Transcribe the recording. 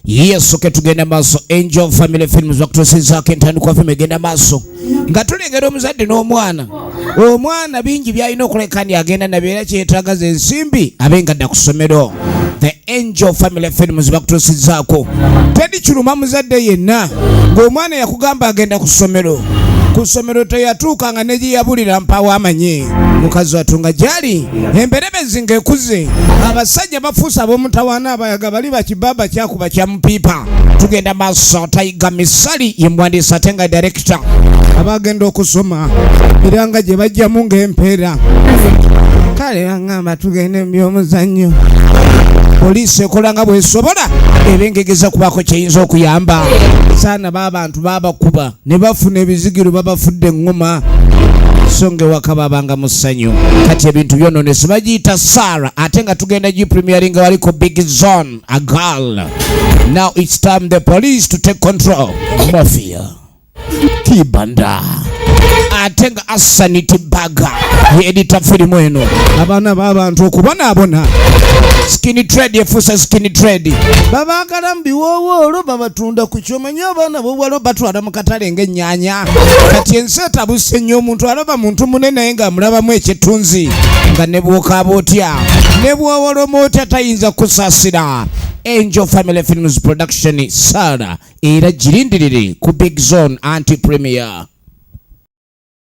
yesu ke tugenda maaso angel family films bakutuusizaako entandikwa fim egenda maaso nga tulengera omuzadde n'omwana omwana bingi byalina okuleka ndi agenda nabyo era kyetaaga ze ensimbi abe nga dda ku ssomero the angel family films bakutuusizaako tedi kiruma muzadde yenna ng'omwana yakugamba agenda ku ssomero ku ssomero teyatuuka nga negyeyabulira mpawo amanyi mukazi watunga gyali emberebezi ng'ekuze abasajja yabafuusa ab'omutawaana abayaga bali bakibaba kyakuba kya mupiipa tugenda maaso tayiga misali ye muwandiisi ate nga direkita abagenda okusoma era nga gye bajjamu ng'empeera kale aŋamba tugende mu by'omuzannyo poliisi ekola nga bwesobola ebengegeza kubaako kyeyinza okuyamba saana baabantu baabakuba ne bafuna ebizigiro babafudde eŋŋuma so nga ewaka babanga mu ssanyu kati ebintu byononese bagiyita sara ate nga tugenda gi premiering nga waliko big zone a girl now its time the police to take control mafia kibanda ate nga asanity baga yeedita firimu eno abaana babantu okubonaabona skin trade efuuse skin trade babagala mu biwoowoolo babatunda ku kyoma nyo abaana bobuwala batwala mu katale ng'ennyanya kati ensi etabuse nnyo omuntu alaba muntu mune naye ng'amulabamu ekittunzi nga ne bwokaaba otya ne bwowoloma otya tayinza kusaasira angel family films production saara era girindirire ku big zone anti premier